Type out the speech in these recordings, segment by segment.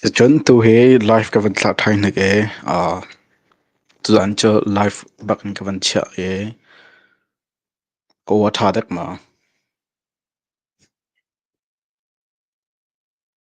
Sicun tu hi live ka van thlah ṭhai hnik i aa tuzan cu live bak in ka van chiah i ka ua ṭha dek ma.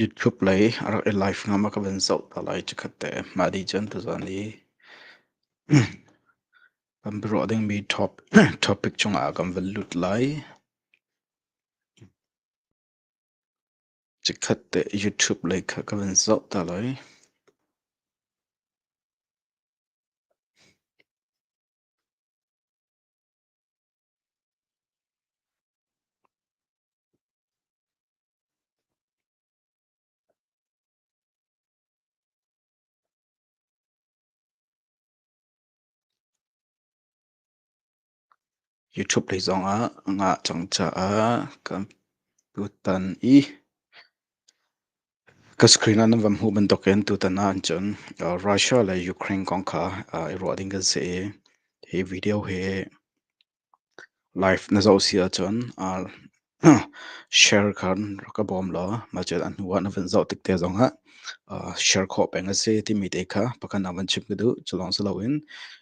YouTube lei a rak i live ngam a ka van zoh ta lai cikhat te. Mah dih cun tuzan i kan biaruah dingmi top topic cungah kan van lut lai. Chikkhat te YouTube lei kha ka van zoh ta lai. YouTube lei zongah ngah cang caah kan tutan i ka screen ah nan van hmuh bantukin tutan ah cun Russia le Ukraine kong kha i ruah ding kan si i hi video hi live na zoh si ahcun Share kha rak ka bawm law macet a hnuah na vun zoh tik te zongah share khawh peng a si timi te kha pakhat ah van chim ka duh. Cu lawng si loin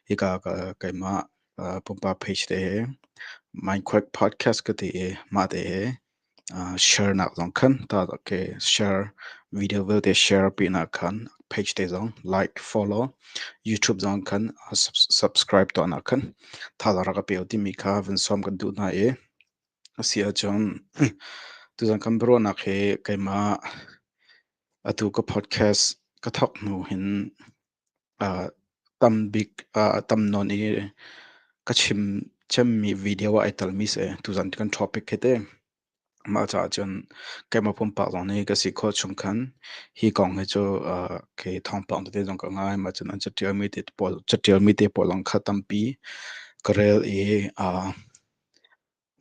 hika ka keimah pumpak page te he Mindquake Podcast ka ti i mah te he share nak zong khan ta ke share video vialte share pinak khan page te zong like follow YouTube zong khan subscribe tuahnak khan thazaang rak ka peo timi kha vun sawm kan duh hna i A si ahcun tuzan kan biaruahnak hi keimah atu ka podcast ka thawk hnu hin aa tam bik aa tam nawn i ka chim cemmi video ah ai telmi si. Tuzan kan topic hi ti. Mah caah cun keimah pumpak zong nih ka si khawh chung khan hi kong hi cu aa kei thawngpang tete zong ka ngai. Mah cun an catialmi te pawl catialmi te pawl zong kha tampi ka rel i aa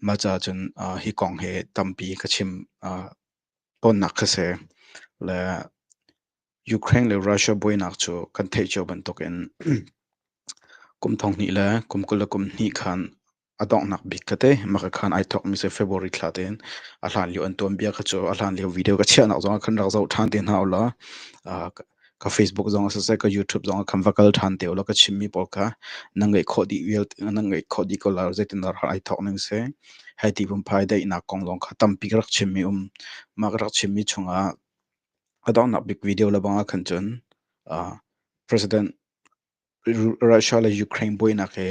Mah caah cun hi kong hi tampi ka chim tawnnak kha si. Le Ukraine le Russia buainak cu kan theih cio bantukin kum thonghnih le kum kul le kum hnih khan a donghnak bik ka ti. Mah khan ai thawkmi si February thla tein a hlanlio an tuanbia kha cu a hlanlio video ka chiahnak zongah khan rak zoh ṭhan te hna u law ka Facebook zong ah siseh ka YouTube zong ah khan va kal ṭhan te ulaw ka chimmi pawl kha nan ngeih khawh dih vial nan ngeih khawh dih ko lai zeitindah ai thawk ning si hei ti phunphai daihnak kong lawng kha tampi ka rak chimmi um mah ka rak chimmi chungah a donghnak bik video le bang ah khan cun president Russia le Ukraine buainak hi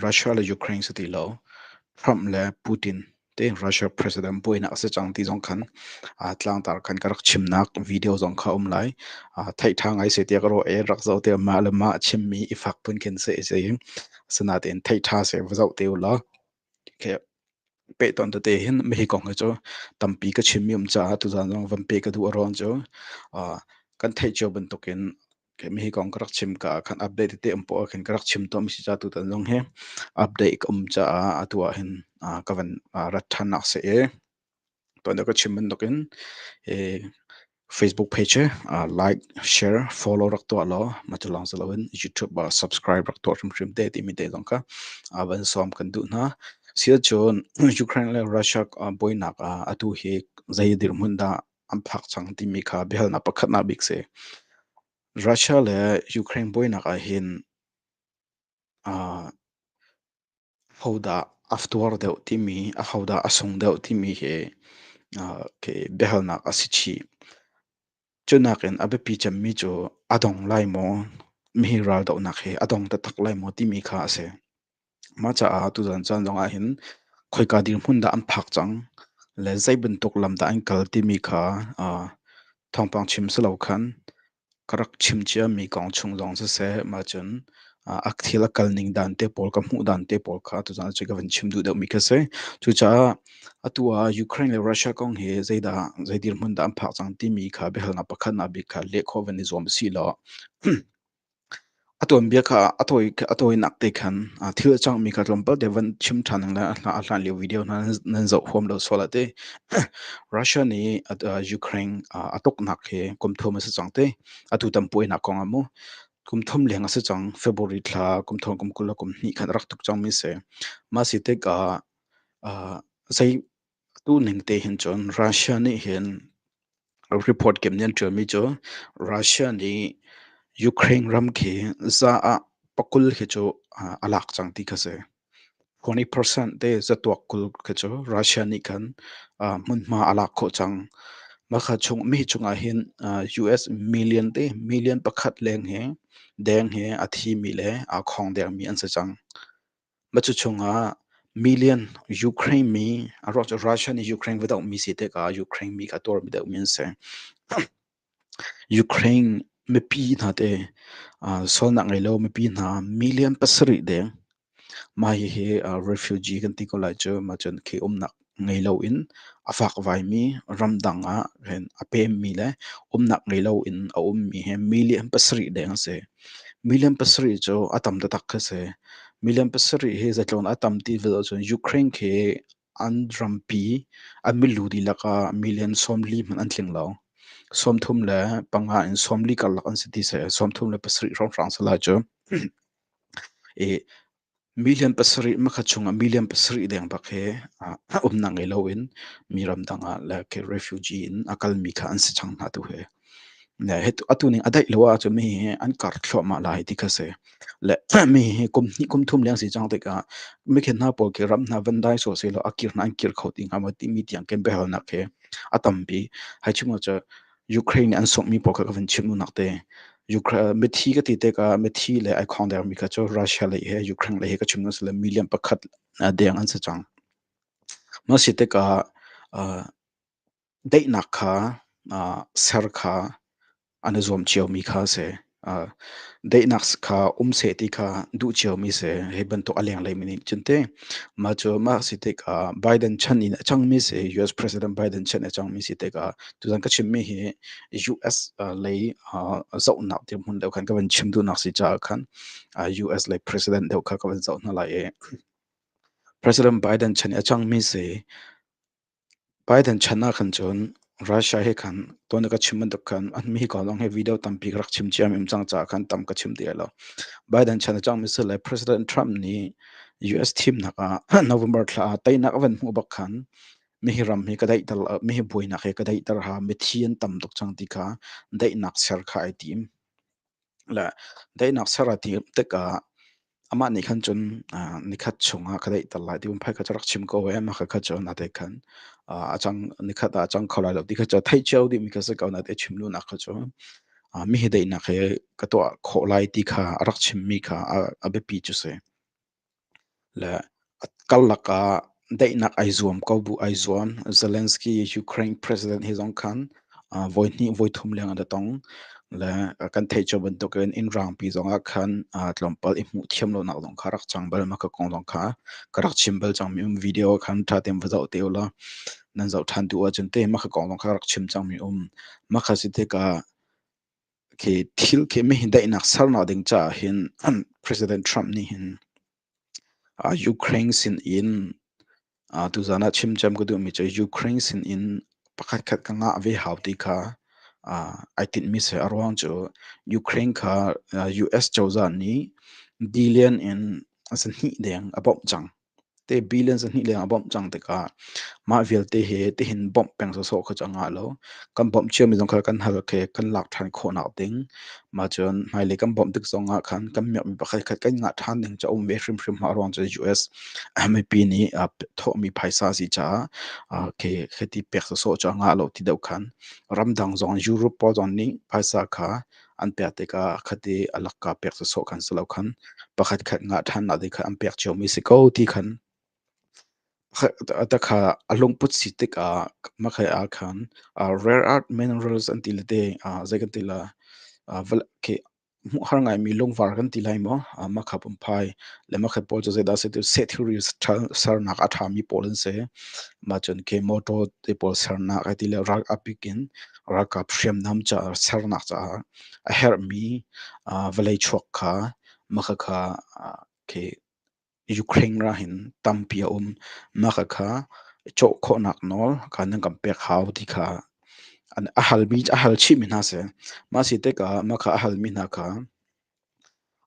Russia le Ukraine si ti lo Trump le Putin te Russia president buainak a si cang ti zong khan tlangtar khan ka rak chimnak video zong kha a um lai. Theih ṭha ngai seh tiah ka ruah i rak zoh tiah mah le mah chimmi i fak pun khin seh i si. Asinain theih ṭha seh va zoh te u law. peh tawn tete hin hihi kong hi cu tampi ka chimmi um caah tuzaan zong van peh ka duh a ruang cu kan theih cio bantukin hihi kong ka rak chim ka ahkhan update tete um poh ahkhin ka rak chim tawn si ca tutan zong hi update ka um caah atu ahhin ka van rat ṭhannak si i Tuan ah ka chim bantukin hi Facebook page hi uh, like, share, follow rak tuah law mah cu lawng si loin YouTube ah subscribe rak tuah hrimhrim te timi te zong kha uh, van sawm kan duh hna. Siah cun Ukraine le Russia uh, buainak ah atu hi zei dirhmun dah an phak cang timi kha biahalnak pakhatnak bik si. Russia le Ukraine buainak ah hin uh, Hodah a tuar deuh timi, a hodah a sung deuh timi hi biahalnak a si chih. Cu nakin a biapi cemmi cu a dong lai maw? Mihi raldohnak hi a dong taktak lai maw timi kha a si. Mah caah tuzan caan zongah hin khoika dirhmun dah an phak cang le zei bantuk lam dah an kal timi kha thawngpang chim si lo khan Ka rak chim ciami kong chung zong siseh, mah cun a thil a kal ning dan te pawl, ka hmuh dan te pawl kha tuzaan cu ka van chim duh deuhmi kha a si. Cucaah atu ah Ukraine le Russia kong hi zeidah zei dirhmun dah an phak cang timi kha biahalnak pakhatnak bik kha leh khawh van i zuam usihlaw, A tuanbia kha a tawinak te khan thil a cangmi kha tlawmpal te van chim ṭhan a hlan lio video hna nan zoh huam lo sual a ti. Russia nih Ukraine a tuknak hi kum thum a si cang ti. Atu tampuainak kong a mu. Kum thum leng a si cang. February thla kum thong kum kul le kum hnih khan rak tuk cangmi si. Mah si tikah zei Tuning tehin cun Russia nih hin report kim nih an ṭialmi cu Russia nih Ukraine ram khi za ah pakul khi cu a lak cang ti kha a si. Kuni percent te zatuak kul khi cu Russia nih khan hmunhma a lak khawh cang. Mah kha chung mi cungah hin US million te million pakhat leng hi deng hi a thimi le aa khawng dengmi an si cang. Matu chungah million Ukraine mi Russia nih Ukraine va doh mi si tikah Ukraine mi kha tuar mi doh mi an si. Ukraine mipi hna te sualnak ngei lo mipi hna million pasarih deng mah hihi refugee kan ti ko lai cu mah cun khi umnak ngei loin a fakvaimi ramdang ah hin a pemmi le umnak ngei loin a ummi hi million pasarih deng a si. Million pasarih cu a tam taktak kha si. Million pasarih hi zatlawn a tam ti vial ahcun Ukraine khi an rampi an milu dihlak ah million sawmli hmanh an tling lo. Sawmthum le panga in sawmli karlak an si ti si. Sawmthum le pasarih hrawnghrang si lai cu. I Milian pasarih, hmakhat chung ah milian pasarih leng bak hi a umnak ngei loin mi ramdang ah le refugee in a kalmi kha an si cang hna tu hi. Le atu ning a daih lo ahcun mi hi an kar thluahmah lai ti kha si. Le mi hi kum hnih kum thum leng si cang tikah mikhen hna pawl khi ram hna van dai sawh sehlaw a kir hna an kir kho ti hnga maw timi tiang ken biahalnak hi a tampi. Hi chung ah cun Ukraine nih an sunghmi pawl kha ka vun chim unak te. Mithi ka ti tikah mithi le ai khawng dermi kha cu Russia lei he Ukraine lei he ka chim unak le million pakhat deng an si cang. Mah si tikah daihnak kha ser kha an i zuam ciomi kha a si. Daihnak kha um seh ti kha duh ciomi si. Hi bantuk a lengleimi nih cun teh mah cu mah si tikah Biden chan in a cangmi si, US President Biden chan a cangmi si tikah tuzan ka chimmi hi US lei zohnak dirhmun deuh khan ka van chim duhnak si caah khan US lei president deuh kha ka van zoh hna lai i President Biden chan i a cangmi si Biden chan ahkhan cun Russia he khan tuan a ka chim bantuk khan mi ko lawng hi video tampi ka rak chim ciammim cang caah khan tam ka chim ti lai lo. Biden chan a cang mi si le President Trump nih US thimnak ah November thla ah teinak a van hmuh bak khan mihi ram hi ka daihter mihi buainak hi ka daihter ha mithi an tam tuk cang ti kha daihnak ser kha ai tim. le daihnak ser a ti tikah amah nih khan cun uh, nikhat chungah ka daih tal lai ti um phai kha rak chim ko ve ma kha kha cun a te khan a chang nikhat a chang kho lai lo ti kha cun thei cheu dimi ka se ko na te chim lu nak kha cun mi hi daihnak he ka tuah khawh lai ti kha a rak chim mi kha a biapi cu si Le karlak ah daihnak ai zuam ko bu ai zuam. Zelensky Ukraine president hi zong khan voi hnih voi thum leng an i tong. Le kan theih cio bantukin inn rangpi zong ah khan tlawmpal i hmuh thiam lonak zong kha rak cang bal. Mah ka kong zong kha ka rak chim bal cangmi um. Video khan ṭha tein va zoh te u law nan zoh ṭhan duh ahcun teh mah ka kong zong kha rak chim cangmi um. Mah kha si tikah khi thil khi mi hi daihnak sernak ding caah hin President Trump nih hin Ukraine sin in tuzan ah chim cem ka duhmi cu Ukraine sin in pakhat khat ka ngah ve hau ti kha ai tinhmi si a ruang cu Ukraine kha US cozah nih dillion in a sahnih deng a bawmh cang. te billions a hnih leng a bawmh cang tikah mah vialte he tihin bawmh peng sawsawh kha cu a ngah lo. Kan bawmh ciami zong kha kan hal khe kan lak ṭhan khawhnak ding. Mah cun hmailei kan bawmh tik zongah khan kan miakmi pakhatkhat kan ngah ṭhan ding cu a um ve hrimhrim. Mah ruang cu US mipi nih a thawhmi phaisa a si caah khe khe ti pek sawsawh cu a ngah lo ti deuh khan ramdang zong Europe pawl zong nih phaisa kha an pek tikah akhat i a lakka pek sawsawh khan si lo khan pakhat khat ngah ṭhannak ding khan an pek cionmi si ko ti khan takha a lungput si tikah makhai ah khan rare earth minerals an ti le te zei kan ti la ke har ngaimi lungvar kan ti lai maw makha pumpai le makhat pawl cu zeidah se tu se theory sernak a ṭhami pawl an se mah cun ke motor te pawl sernak ai ti le rak apik in ralkap hriamnam caah sernak caah a herhmi vawlei chuak kha maka kha khi Ukraine ra hin tampi a um maka kha cawh khawhnak nawl ka nan kan pek hau ti kha a halmi a hal chihmi hna si mah si tikah maka a halmi hna kha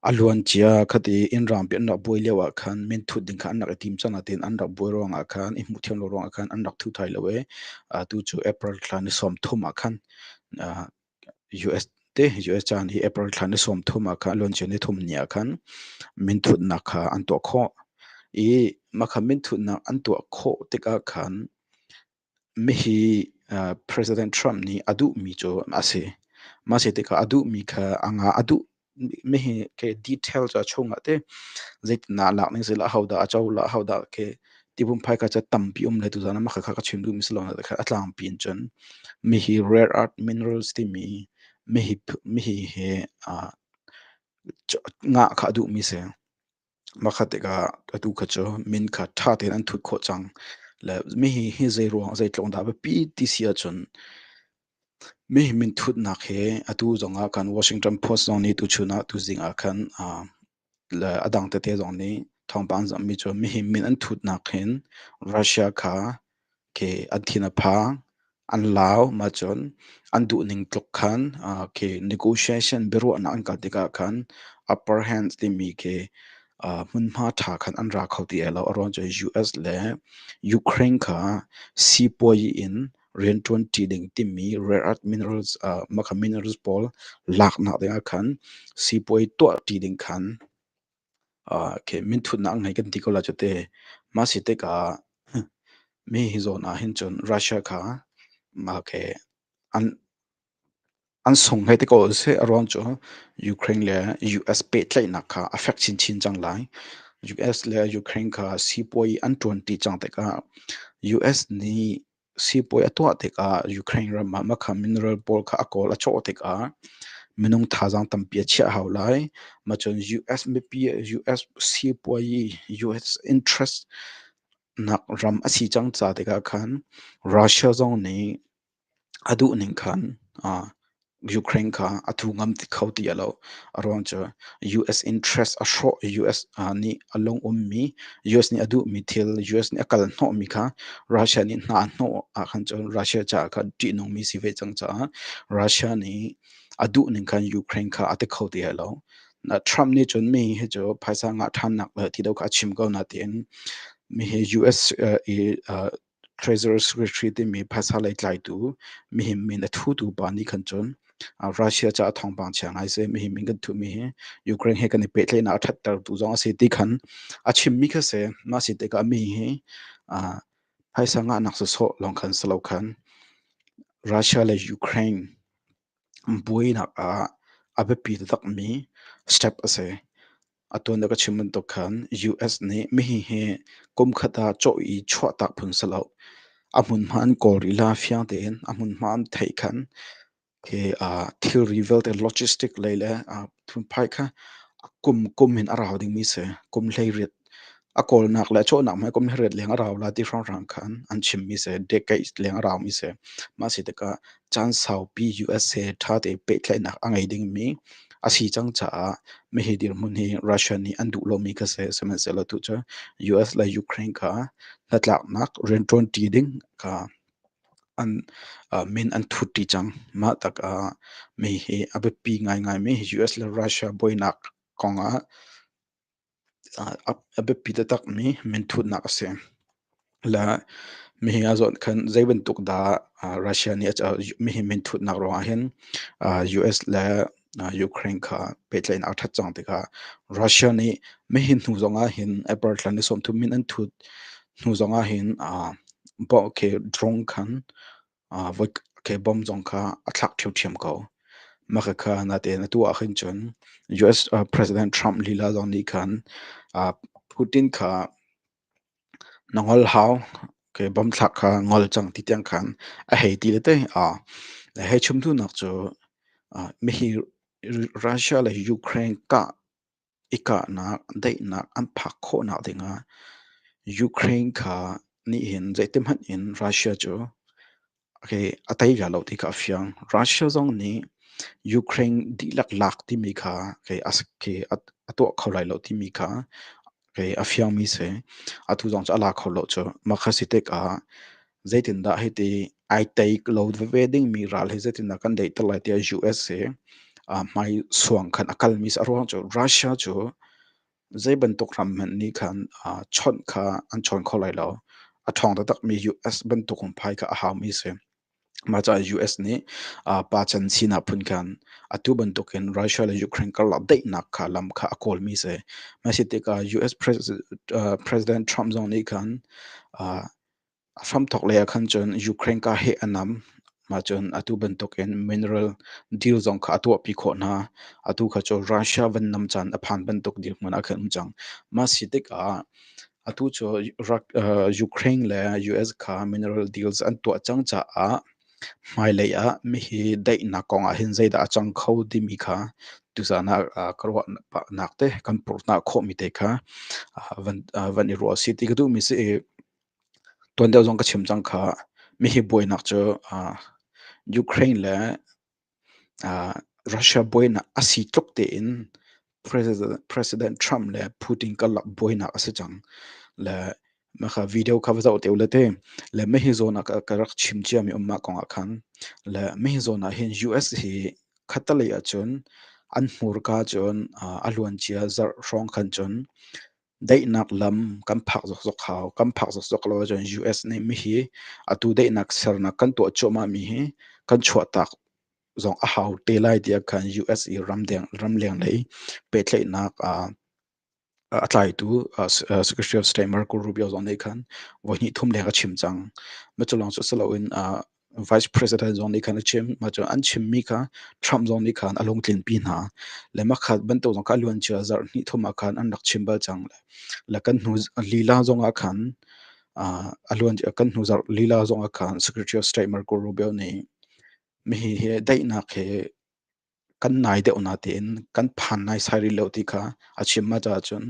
A luancia khat i innraang pi an rak buai lio ah khan minthut ding kha an rak i tim cang nain an rak buai ruangah khan i hmuh thiam lo ruangah khan an rak thu thai lo i atu cu April thla ni sawm thum ah khan US te US caan hi April thla ni sawm thum ah khan luancia ni thum ni ah khan minthutnak kha an tuah khawh i mah kha minthutnak an tuah khawh tikah khan Mihi President Trump nih a duhmi cu a si. Mah a si tikah a duhmi kha a ngah. A duh mihi ke detail cu a chungah te zeitindah a lak ning zeilah ahodah a cohlah, ahodah ke tipumpai kha ca tampi um le tuzan ah mah kha ka chim duhmi si lo na kha a tlangpi in cun mihi rare earth minerals timi mihi he ngah kha a duhmi a si. Makhat tikah atu kha cu min kha ṭha tein an thut khawh cang. Le mihi hi zeiruang zeitluk dah a biapi ti si ahcun mihi minthutnak hi atu zongah khan Washington Post zong nih tuchun ah tuzing ah khan ah le a dang tete zong nih thawngpang an zamhmi cu mihi min an thutnak hin Russia kha ke an thin a phang. An lau ahcun an duhning tluk khan ke negotiation biaruahnak an kal tikah khan upper hands timi ke hmunhma ṭha khan an ra kho ti ai lo. A ruang cu US le Ukraine kha sipuazi in rianṭuanṭi ding timi rare earth minerals minerals pawl laknak dingah khan sipuazi tuahṭi ding khan Okay, minthutnak ngai kan ti ko la cu te. Mah si tikah mi hi zawn ah hin cun Russia kha okay an an sung hlei te ko seh a ruang cu Ukraine le US pehtlaihnak kha a fek chinchin cang lai. US le Ukraine kha sipuai an tuan ti cang tikah US nih Siibawi a tuah tikah Ukraine ram ah makha mineral pawl kha a kawl a cawh tikah minung thazaang tampi a chiah hau lai. Macun US mipi, US siibawi, US interest nak ram a si cang ca tikah khan Russia zong nih a duh ning khan Ukraine kha a thu ngam ti kho ti a lo. A ruang cu US interest a hrawh US nih a lung ummi US nih a duhmi thil US nih a kal hnawhmi kha Russia nih hna a hnawh ahkhan cun Russia caah khan ṭihnungmi si ve cang caah Russia nih a duhning khan Ukraine kha a ti kho ti a lo. Trump nih cun mi hi cu phaisa ngah ṭhannak le ti do kha a chim ko nain mi hi US i Treasury Secretary timi phasa lei tlaitu mihim min a thutu pa nih khan cun Russia caah thawngpang chia ngai seh mihim min kan thuhmi hi Ukraine he kan i pehtlaihnak a ṭhattertu zong a si ti khan a chimmi kha si mah si tikah mi hi phaisa ngahnak sawsawh lawng khan si lo khan Russia le Ukraine buainak ah a biapi taktakmi step a si. Atu na ka chim bantuk khan US nih mihi hi kumkhat ah cawh i chuahtak phung si lo. A hmunhma an kawl rih la fiang tein a hmunhma an theih khan hi uh, thilri vialte logistic lei le uh, phunphai kha a kum kum in a rau dingmi si kum hleiriat a kawlnak le cawhnak mai kum hleiriat leng a rau la ti hrang hrang khan an chimmi si decades leng a raumi si ma si tikah Caan saupi USA ṭhate pehtlaihnak a ngei dingmi a si cang caah hihi dirhmun hi Russia nih an duh lomi kha si, sihmanhsehlaw tucu US le Ukraine kha hnatlaknak rianṭuanṭi ding kha an min an thutṭi cang. Mah tikah hihi a biapi ngaingaimi US le Russia buainak kongah A biapi taktakmi minthutnak a si. Le mihi a zawt khan zeibantuk dah Russia nih mihi minthutnak ruangah hin US le Ukraine kha pehtlaihnak a ṭhat cang tikah Russia nih mihi hnu zongah hin April thla ni sawmthum min an thut hnu zongah hin drone khan Kei bawm zong kha a thlak ṭhiamṭhiam ko. Maka kha nate na tuah ahhin cun US President Trump lila zong nih khan Putin kha na ngol hau, kei bawm thlak kha ngol cang ti tiang khan a hei ti le tei. Na hei chim hnunak cu mihi Russia le Ukraine kah i kahnak daihnak an phak khawhnak dingah Ukraine kha nih hin zeitihmanh in Russia cu okay, a tei ve lo ti kha a fiang. Russia zong nih Ukraine dihlak lak timi kha okay, a, okay, a, a tuah kho lai lo timi kha okay, a fiangmi si. Atu zong cu a la kho lo cu. Mah kha si tikah Zeitindah hiti ai teik lo veve dingmi ral hi zeitindah kan daihter lai tiah US hi uh, hmai suang khan a kalmi a ruang cu Russia cu zei bantuk ram hmanh nih khan uh, chawnh kha an chawn kho lai lo. A ṭhawng taktakmi US bantuk in phai kha a haumi si. Mahcaah US nih uh, pa chan sinak phun khan atu bantuk in Russia le Ukraine karlak daihnak kha lam kha a kawlmi si. Mah si tikah US President, uh, President Trump zong nih khan uh, A hramthawk lei ahkhan cun Ukraine kaa hi a nam. Mah cun atu bantukin mineral deal zong kha a tuahpi khawh hna. Atu kha cu Russia van nam caan a phan bantuk dirhmun ah khan um cang. Mah si tikah atu cu Ukraine le US kha mineral deals an tuah cang caah Hmailei ah mihi daihnak kong ah hin zeidah a cang kho timi kha tuzaan ah ah ka ruah nak te kan purhhnah khawhmi te kha van van i ruah si ti ka duhmi si i tuan deuh zong ka chim cang kha mihi buainak cu Ukraine le Russia buainak a si tluk tein President Trump le Putin karlak buainak a si cang. Le mah kha video kha va zoh te u le ti. Le mah hi zawn ah ka rak chim ciami um mah kong ah khan. Le mah hi zawn ah hin US hi khattelei ah cun an hmurka cun a luancia zarh hrawng khan cun Daihnak lam kan phak zokzok hau. Kan phak zokzok lo ahcun US nih mihi atu daihnak sernak kan tuah cuahmahmi hi kan chuahtak zong a hau te lai tiah khan US i ramleng lei pehtlaihnak a tlaitu Secretary of State Marco Rubio zong nih khan voihnih thum leng a chim cang. Mah cu lawng cu si loin vice president zong nih khan a chim mah cu an chimmi kha Trump zong nih khan a lung tlinpi hna le makhat bantuk zong kha a luancia zarh hnih thum ah khan an rak chim bal cang le kan hnu lila zong ah khan a luan kan hnu zarh lila zong ah khan Secretary of State Marco Rubio nih mi hi hi daihnak he kan nai deuh natein kan phan naisai rih lo ti kha a chim ma caah cun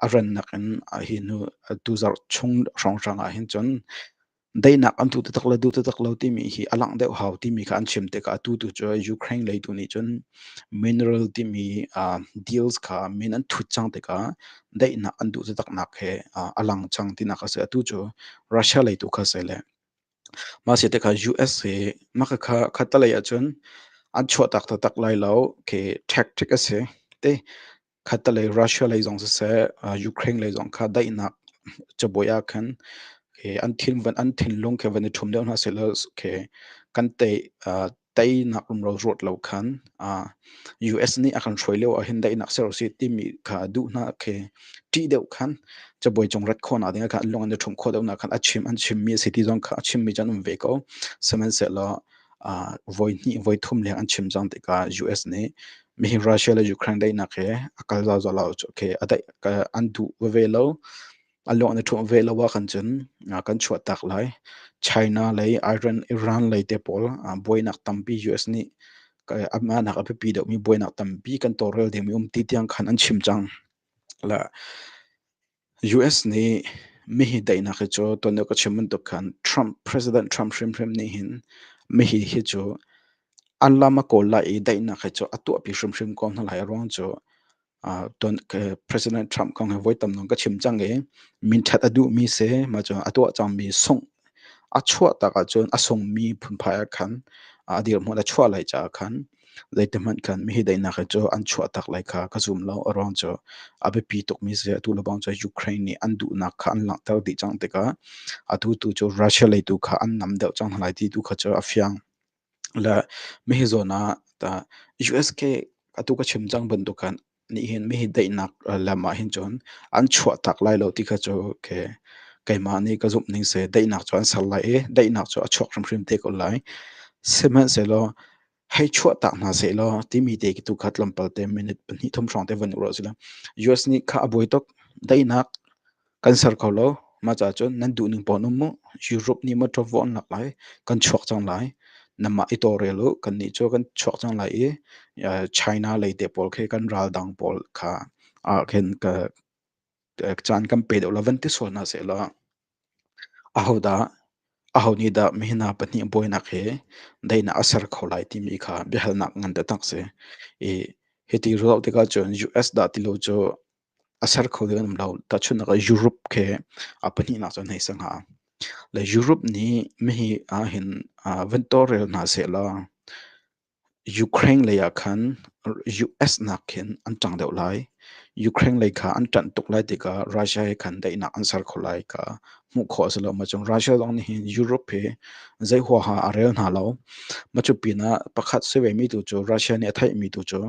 a rannak in hi hnu tuzarh chung hrawnghrang ah hin cun daihnak an tuh taktak le duh taktak lo timi hi a langh deuh hau timi kha an chim tikah atu tu cu Ukraine lei tu nih cun mineral timi deals kha min an thut cang tikah daihnak an duh taktaknak he a lang cang tinak a si atu cu Russia lei tu kha a si le Mah siate kha US hi maka kha khattelei ahcun an chuahtak taktak lai lo khi tactic asi. Ti khattelei Russia lei zong siseh Ukraine lei zong kha daihnak cabuai ahkhan khi an thinlung khi van i ṭhum deuh hna sehlaw khi kan tei teinak rumro ruat lo khan uh, US nih a kan hruai lio ahhin daihnak ser si timi kha duh hna khi ṭih deuh khan cabuai cung rat khawna ding khan lung an i ṭhum khawh deuh na khan a chim an chimmi a si ti zong kha a chimmi chan um ve ko sihmanhsehlaw uh, voi hnih voi thum leng an chim cang tikah US nih mihi Russia le Ukraine daihnak he a kal zalzal lo cu khi a daih an duh veve lo A luang na ṭhumh ve lo ahkhan cun kan chuahtak lai. China lei Iran, Iran lei te pawl buainak tampi US nih amahnak a biapi deuhmi buainak tampi kan tawlrel dingmi um ti tiang khan an chim cang. La US nih mihi daihnak hi cu tuan deuh ka chim bantuk khan Trump, President Trump hrimhrim nih hin mihi hi cu an lam a kawl lai i daihnak hi cu a tuahpi hrimhrim ko hna lai. A ruang cu President Trump kong hi voi tam dong ka chim cang i minthat a duhmi si mah cu a tuah cangmi sungh a chuah tak ahcun a sungmi phunphai ah khan a dirhmun a chuah lai caah khan zeitihmanh khan mihi daihnak hi cu an chuah tak lai kha ka zum lo. A ruang cu a biapi tukmi si atu le bang cu Ukraine nih an duhnak kha an langhter dih cang tikah atu tu cu Russia lei tu kha an nam deuh cang hna lai ti tu kha cu a fiang. Le mihi zawn ah tah US ke atu ka chim cang bantukan nih hin mihi daihnak lam ah hin cun an chuahtak lai lo ti kha cu ke keimah nih ka zumh ning si. Daihnak cu an ser lai i daihnak cu a chuak hrimhrim te ko lai. Sihmanhsehlaw hei chuahtak hna sehlaw timi te tu kha tlawmpal te minute pahnih thum hrawng te van uk rawh sila US nih kha a buai tuk. Daihnak Kan ser kho lo. Mah caah cun nan duhning pawl um u. Europe nih mawṭaw vuah an lak lai. Kan chuak cang lai. Nanmah i tawlrel u. Kannih cu kan chuak cang lai i eh, China lei te pawl khi kan raldang pawl kha ah khin ka eh, caan kan pe deuh lo van ti sual hna sehlaw aho dah aho nih dah mihna pahnih buainak hi dainak a ser kho lai timi kha biahalnak ngan taktak si. I hiti ruah tikah cun US dah ti lo cu a ser kho ding an um lo. Tahchunhnak ah Europe khi a pahnihnak cu an hei si hnga. Le Europe nih mihi ahhin ah vuntaw rel hna sehlaw Ukraine lei ah khan US nak khin an ṭang deuh lai. Ukraine lei kha an ṭanh tuk lai tikah Russia he khan daihnak an ser kho lai ka hmuh khawh a si lo. Mah cun Russia zong nih hin Europe hi zei huaha a rel hna lo. Mah cu pinah pakhat si vemi tu cu Russia nih a theihmi tu cu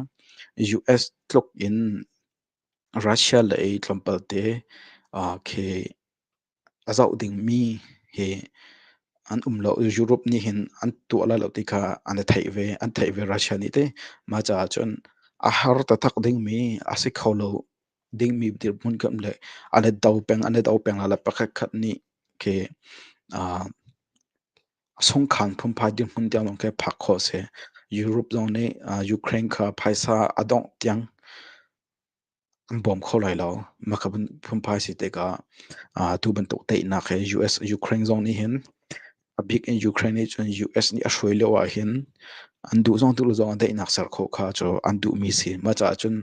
US tluk in Russia lei tlawmpalte khi a zoh dingmi hi an um lo. Europe nih hin an tuah lai lo ti kha an i theih ve. An theih ve Russia nih teh. Mah caah cun a har taktak dingmi, a si kho lo dingmi dirhmun kam le an i do peng, an i do peng lai le pakhatkhat nih khi A sungkhang phunphai dirhmun tiang lawng khi phak khawh a si. Europe zong nih Ukraine kha phaisa a dongh tiang an bawm kho lai lo. Mahka phunphai si tikah tu bantuk teinak hi US Ukraine zong nih hin a bik in Ukraine nih cun US nih a hruai lio ahhin an duh zong duh lo zong ah daihnak ser khawh kha cu an duhmi si. Mah caah cun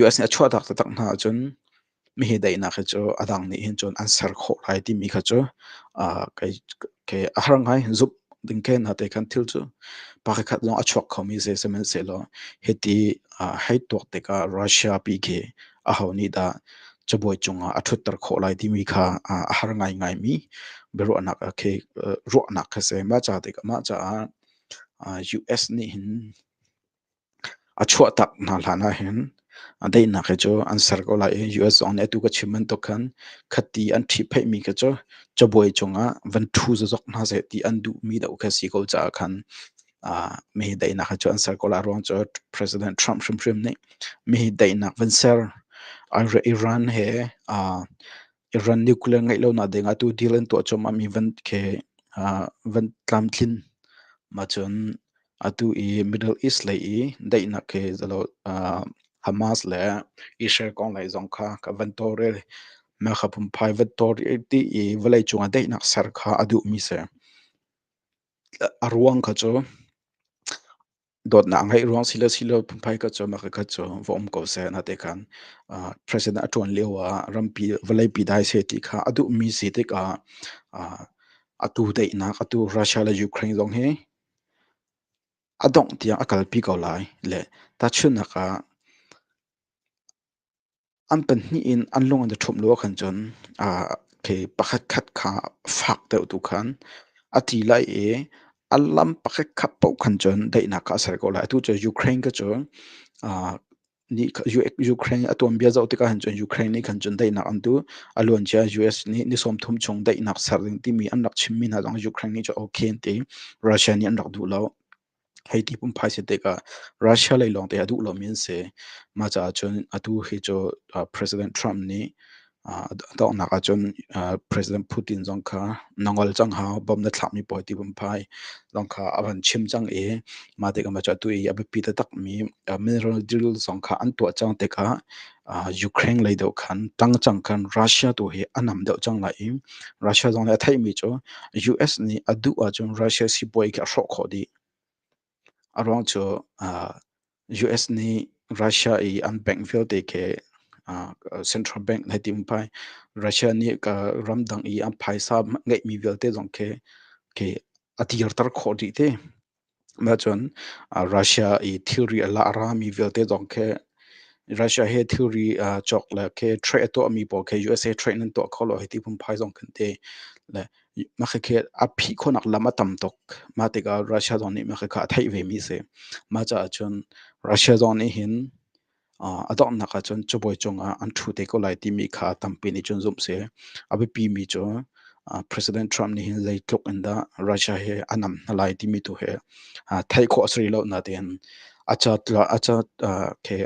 US nih a chuahtak taktak hna ahcun mihi daihnak hi cu a dang nih hin cun an ser khawh lai timi kha cu uh, kei, kei a har ngai zumh ding ke hna te khan thil cu pa khat long a chuak khomi se sehmanhsehlaw hiti uh, hei tuak tikah Russia pi khi a ho nih dah cabuai cungah a ṭhutter khawh lai timi kha uh, a har ngaingai mi biaruahnak ah khi uh, ruahnak kha se ma ca tikah mah caah uh, US nih hin A chuahtak hna hlan ahhin a daihnak hi cu an ser ko lai i US zong nih atu ka chim bantuk khan khati an ṭhipheihmi khi cu cabuai cungah van ṭhu zozok hna seh ti an duhmi deuh khi a si ko caah khan ah mihi daihnak hi cu an ser ko lai ruang cu President Trump hrimhrim nih mihi daihnak van ser an re Iran he ah Iran nuclear ngeih lonak ding atu deal an tuah cuahmah mi van khi ah van tlamtlin ma cun Atu i Middle East lei i daihnak hi Hamas le Israel kong lei zong kha ka van tawlrel. Mah kha phunphai van tawlrel ti i vawlei cungah daihnak ser kha a duhmi si. A ruang kha cu dawtnak a ngeih ruang si le si lo phunphai kha cu mah kha cu va um ko seh na te khan president a ṭuan lio ah rampi vawleipi dai seh ti kha a duhmi si tikah atu daihnak atu Russia le Ukraine zong hi A dongh tiang a kalpi ko lai le tahchunhnak ah, an pahnih in an lung an i ṭhumh lo ahkhan cun okay pakhatkhat kha fak deuh tu khan a ti lai i a lam pakhatkhat paoh khan cun daihnak kha a ser ko lai. Atu cu Ukraine cu nih Ukraine a tuanbia zoh tikah hin cun Ukraine nih khan cun daihnak an duh a luancia US nih ni sawm thum chung daihnak ser ding timi an rak chimmi hna zong Ukraine nih cu okay an ti Russia nih an rak duh lo hei ti pum phai se tikah Russia lei lawng te a duh lomi an si mah caah cun atu hi cu President Trump nih A donghnak ahcun President Putin zong kha na ngol cang hau, bom na thlahmi pawl ti vun phai zong kha a van chim cang i mah tikah cu atu i a biapi taktakmi mineral deal zong kha an tuah cang tikah Ukraine lei deuh khan tangcang khan Russia tu hi a nam deuh cang lai i Russia zong nih a theihmi cu US nih a duh ahcun Russia sibawi khi a hrawh khawh dih. A ruang cu US nih Russia i an bank vialte khi central bank nai ti pai. Russia nih ramdang i an phaisa ngeihmi vialte zong khi a dirter khawh dih ti. Nacun Russia i thilri a la a rami vialte zong khi Russia he thilri cawk le khi trade a tuahmi pawl khi USA trade nan tuah kho lo hei ti phunphai zong kan ti. Le Makhakhe a phih khonak lam a tam tuk. Mah tikah Russia zong nih makhakhe a theih vemi a si. Mah caah cun Russia zong nih hin a donghnak ah cun cabuai cungah an ṭhu te ko lai timi kha tampi nih cun zumh si. A biapimi cu President Trump nih hin zeitluk in dah Russia hi a nam hna lai timi tu hi theih khawh a si rih lo nain a ca khe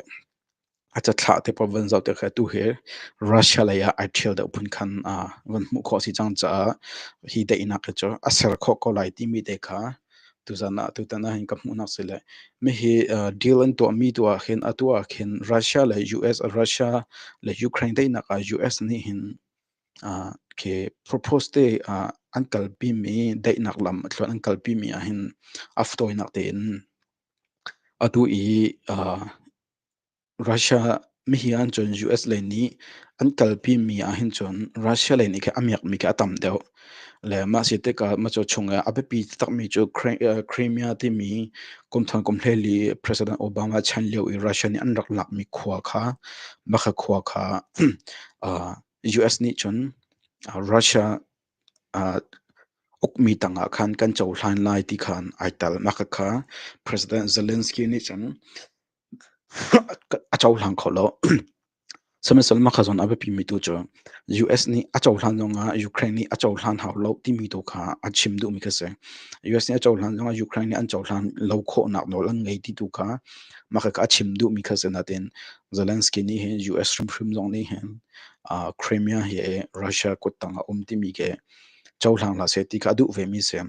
a cathlah te pa van zoh te kha tu hi Russia lei ah ai ṭhial deuh phun khan van hmuh khawh a si cang caah hi daihnak hi cu a ser khawh ko lai timi te kha tuzan ah tutan ah hin ka hmuhnak si le mi hi deal an tuahmi tu ah khin atu ah khin Russia le US Russia le Ukraine daihnak ah US nih hin khi propose te an kalpimi daihnak lam thluan an kalpimi ah hin a ftawinak tein atu i Russia ah mihi ahcun US lei nih an kalpi mi ahhin cun Russia lei nih khin a miakmi khi a tam deuh. Le mah si tikah mah cu chungah a biapi taktakmi cu Crimea timi kumthar kumhleli President Obama chan lio i Russia nih an rak lakmi khua kha mah kha khua kha US nih cun Russia Ukmi tangah khan kan cohlan lai ti khan ai tel. Mah kha President Zelensky nih cun a cohlang kho lo. Sihmanhsehlaw mah kha zawn a biapimi tu cu US nih a cohlan zongah Ukraine nih a cohlan hau lo timi tu kha a chim duhmi kha a si. US nih a cohlan zongah Ukraine nih an cohlan lo khawhnak nawl an ngei ti tu kha mah kha a chim duhmi kha a si. Nain Zelensky nih hin US hrimhrim zong nih hin uh, Crimea hi Russia kuttang a um timi ke cohlang hlah seh ti kha a duh ve mi si.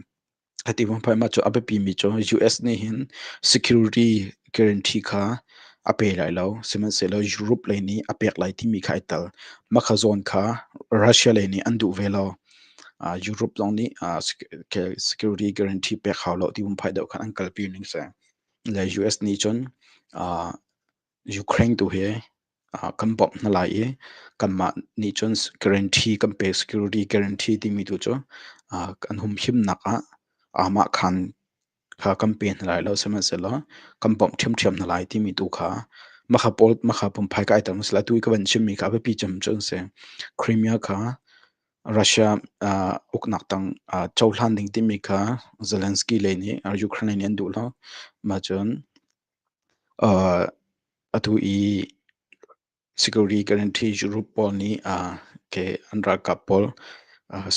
Hati pun phai ma cu a biapi mi cu US nih hin security guarantee kha a pe lai lo sihmanhsehlaw Europe lei nih a pek lai timi kha ai tel makha zawn kha Russia lei nih an duh ve lo uh, Europe zong nih uh, security guarantee pek hau lo ti pun phai deuh khan an kalpi ning se le US nih cun uh, Ukraine tu hi kan bawmh hna lai i kanmah nih cun guarantee kan pe security guarantee timi tu cu an hum himnak ah aamah khan kha kan pe hna lai lo sihmanhsehlaw kan bawmh ṭhiamṭhiam hna lai timi tu kha mahka pumphai ka aiter masalah atu i ka van chimmi kha a biapi cem cu an si. Crimea kha Russia uknak tang cohlan ding timi kha Zelensky le nih Ukraine nih an duh lo. Mahcun Atu i security guarantee group pawl nih ke an ralkap pawl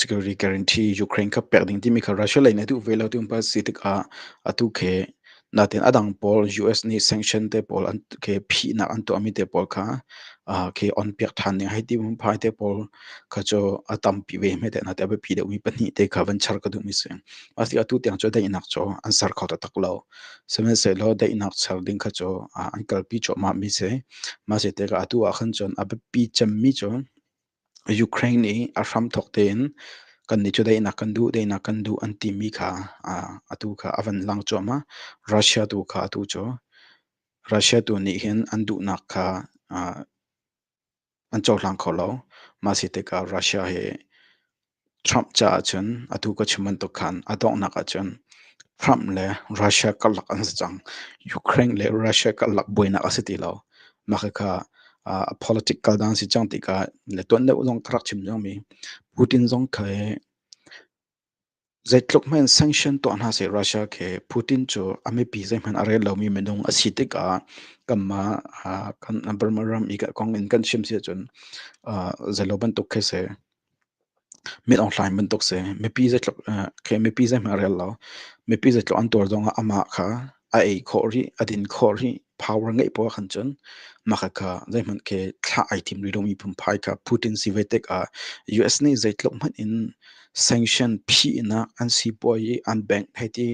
security guarantee Ukraine kha pek ding timi kha Russia lei nih a duh ve lo ti hmanh a si tikah atu khi natin a dang pawl US nih sanction te pawl ke phihnak an tuahmi te pawl kha ke on piak ṭhan ding hei ti hmumphai te pawl kha cu a tampi ve hme teh na ti a biapi deuhmi pahnih te kha van char ka duhmi a si. Asi atu tiang cu daihnak cu an ser kho taktak lo. Sihmanhsehlaw daihnak ser ding kha cu an kalpi cuahmah mi si. Mah si te atu ah khan cun a biapi cemmi cu Ukraine i a hram thok tein kan nih cu daihnak kan duh, daihnak kan duh an timi kha atu kha a van lang cuahmah. Russia tu kha atu cu Russia tu nih hin an duhnak kha an cohlang kho lo. Mah si tikah Russia hi Trump caah cun atu ka chim bantuk khan a donghnak ahcun Trump le Russia karlak an si cang. Ukraine le Russia karlak buainak a si ti lo. Mah khikha uh, a politic kal dan si cang tikah le tuan deuh zong ka rak chim cangmi Putin zong kha hi Zeitluk hmanh sanction tuah hna seh Russia khi Putin cu a mipi zeihmanh a ret lomi minung a si tikah kanmah ah kan Burma ram i kong in kan chim si ahcun zeilo bantuk khi si mit onghlaing bantuk si mipi zeitluk khi mipi zeihmanh a rel lo mipi zeitluk an tuar zongah amah kha a ei khawh rih a din khawh rih power ngeih poah khan cun maka kha zeihmanh ke thlah ai thim rih lomi phunphai kha Putin si ve tek ah US nih zeitluk hmanh in sanction phinak an si puai i an bank hei ti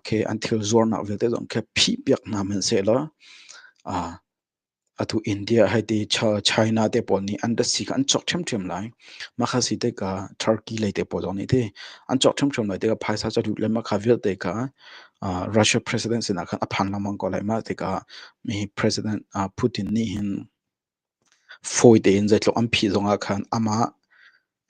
ke an thil zuarnak vialte zong khe phi piak hna man se la atu India hai ti China te pawl nih an si kha an chok ṭhem ṭhem lai makha si te ka Turkey lei te pawl zong nih ti an chok ṭhem ṭhem lai te ka phaisa cha lut le makha vialte ka Russia president sinah khan a phang lengmang ko lai. Mah tikah mi president Putin nih hin fawi tein zeitluk an phih zongah khan amah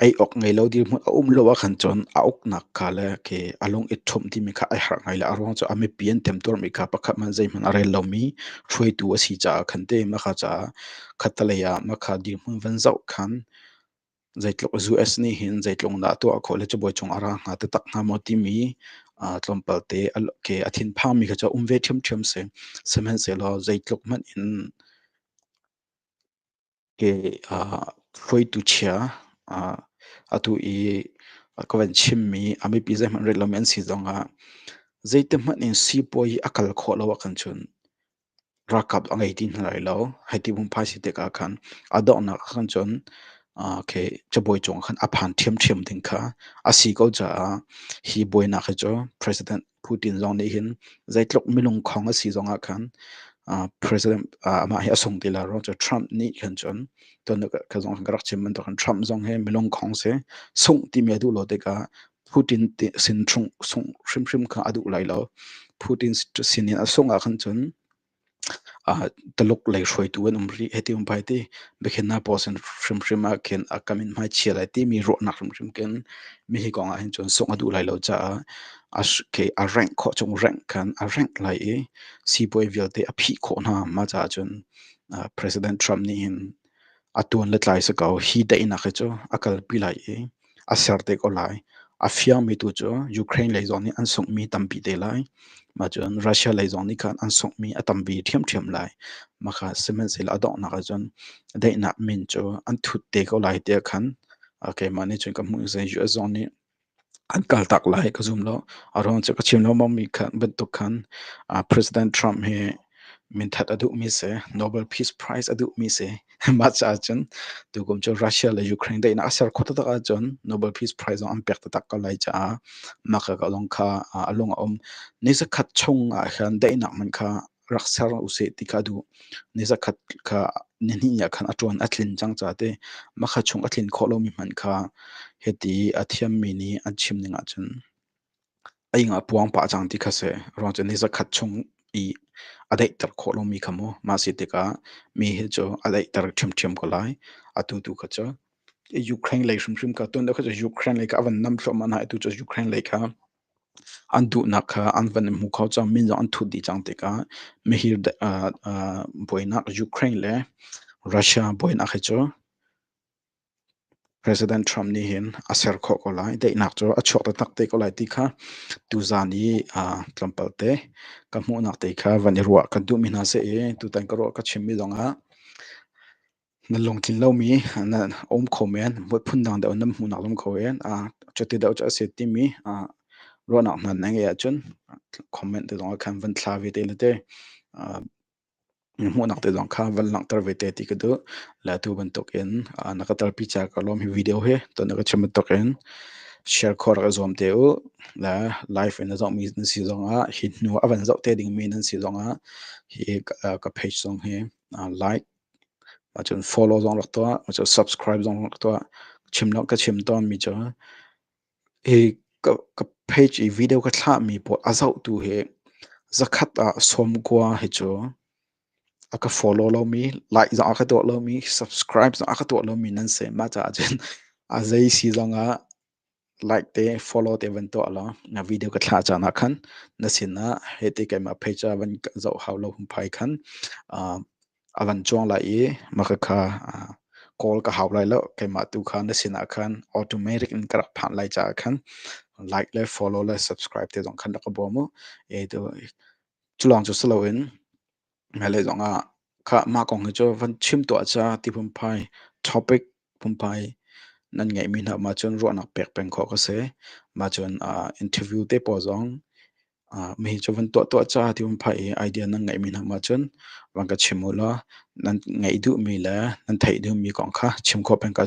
ei awk ngei lo dirhmun a um lo ahkhan cun a uknak kha le ke a lung i ṭhumh timi kha ai harh ngai le a ruang cu a mipi an temtuarmi kha pakhat hmanh zeihmanh a rel lomi hruaitu a si caah khan te mah kha caah khattelei ah mah kha dirhmun van zoh khan Zeitluk US nih hin zeitlung dah tuah khawh le cabuai cung a ra hnga taktak hnga maw timi tlawmpal te ke a thinphangmi kha cu a um ve ṭhiamṭhiam si. Sihmanhsehlaw zeitluk hmanh in ke hruaitu chia atu i ka van chimmi a mipi zeihmanh ret lomi an si zongah zeitihmanh in sipuai i a kal khawh lo ahkhan cun ralkap a ngei ti hna lai lo. Hei ti pumh phaisi tik ah khan a donghnak ah khan cun okay, cabuai cung ah khan a phan ṭhiamṭhiam ding kha a si ko caah hi buainak hi cu President Putin zong nih hin zeitluk milungkhong a si zong ah khan President amah hi a sung ti la rua cu Trump nih khan cun tonnak ka zong khan ka rak chim bantuk khan Trump zong hi milungkhong si sungh timi a duh lo tik ah Putin sin chung sungh hrimhrim kha a duh lai lo. Putin sin i a sungh ah khan cun Taluk lei hruaitu an um rih hei ti um pai ti. Biakhin hna pawl sin hrimhrim ah khin a kam in hmaichia lai timi ruahnak hrimhrim khin mi hi kong ah hin cun sungh a duh lai lo caah a rengh khawh chung rengh khan a rengh lai i sipuai vialte a phih khawh hna. Mah caah cun President Trump nih hin a tuan le tlai si ko. Hi daihnak hi cu a kalpi lai i a ser te ko lai. A fiangmi tu cu Ukraine lei zong nih an sunghmi tampi te lai. Mah cun Russia lei zong nih khan an sunghmi a tampi ṭhiamṭhiam lai. Maka sihmanhsehlaw a donghnak ah cun daihnak min cu an thut te ko lai tiah khan keimah nih cun ka hmuh. US zong nih an kaltak lai ka zum lo. A ruang cu ka chim lengmangmi khan bantuk khan President Trump hi Minthat a duhmi si, Nobel Peace Prize a duhmi si. Mah caah cun tukum cu Russia le Ukraine daihnak a ser khawh taktak ahcun Nobel Peace Prize zong an pek taktak ko lai caah mah ka lawng kha a lung a um. Ni zakhat chung ahkhan daihnak man kha rak ser usih ti ka duh. Ni zakhat kha ni hnih ahkhan a ṭuan a tlin cang caah ti mah kha chung a tlin khawh lomi hmanh kha hiti a thiammi nih an chim ning ahcun. A ing a puang pah cang ti kha seh. Ruang cu ni zakhat chung i a daihter khawh lomi kha mu. Mah si tikah mi hi cu a daihter ṭhiamṭhiam ko lai. Atu tu kha cu Ukraine lei hrimhrim kha, tun deuh kha cu Ukraine lei kha a van nam thluahmah hna i atu cu Ukraine lei kha an duhnak kha an van i hmu kho cang. Min zong an thut dih cang tikah mihir buainak Ukraine le Russia buainak hi cu President Trump nih hin a ser khawh ko lai. Daihnak cu a chuak taktak te ko lai ti kha tuzan i tlawmpal te ka hmuhnak te kha van i ruah kan duhmi hna seh i tutan ka ruah ka chimmi zongah na lungtlin lomi na um kho men, mutphun dang deuh in nan hmuhnak um kho men, cuti deuh cu a si timi ruahnak hna na ngeih ahcun comment te zongah khan van thla ve te le te Na hmuhnak te zong kha van langhter ve te ti ka duh. Le atu bantukin na ka telpi ca ka lawm hi video hi ton na ka chim bantukin share khua rak i zuam te u. Le live in na zohmi nan si zongah hi hnu a van zoh te dingmi nan si zongah hi ka page zong hi like cun follow zong rak tuah cun subscribe zong rak tuah. Chim law ka chim tawnmi cu Ka page i video ka thlahmi pawl a zohtu hi zakhat ah sawmkua hi cu a ka follow lomi, like zong a ka tuah lomi, subscribe zong a ka tuah lomi nan si. Mah caah cun a zei si zong ah like te, follow te van tuah law na video ka thlah caan ah khan na sinah hiti keimah page ah van zoh hau lo humpai khan a van cuang lai i maka kha kawl ka hau lai lo keimah tu kha na sinah khan automatic in ka rak phanh lai caah khan like le follow le subscribe te zong khan rak ka bawm u e tu cu lawng cu si loin mele zong ah kha mah kong hi cu van chim tuah ca ti phunphai topic phunphai nan ngeihmi hna ma cun ruahnak pek peng khawh ka si ma cun interview te pawl zong Ah, mi cu van tuah-tuah caah ti vun phah i idea nan ngeihmi hna mak cun van ka chim ulaw nan ngeih duhmi le nan theih duhmi kong kha chim khawh peng ko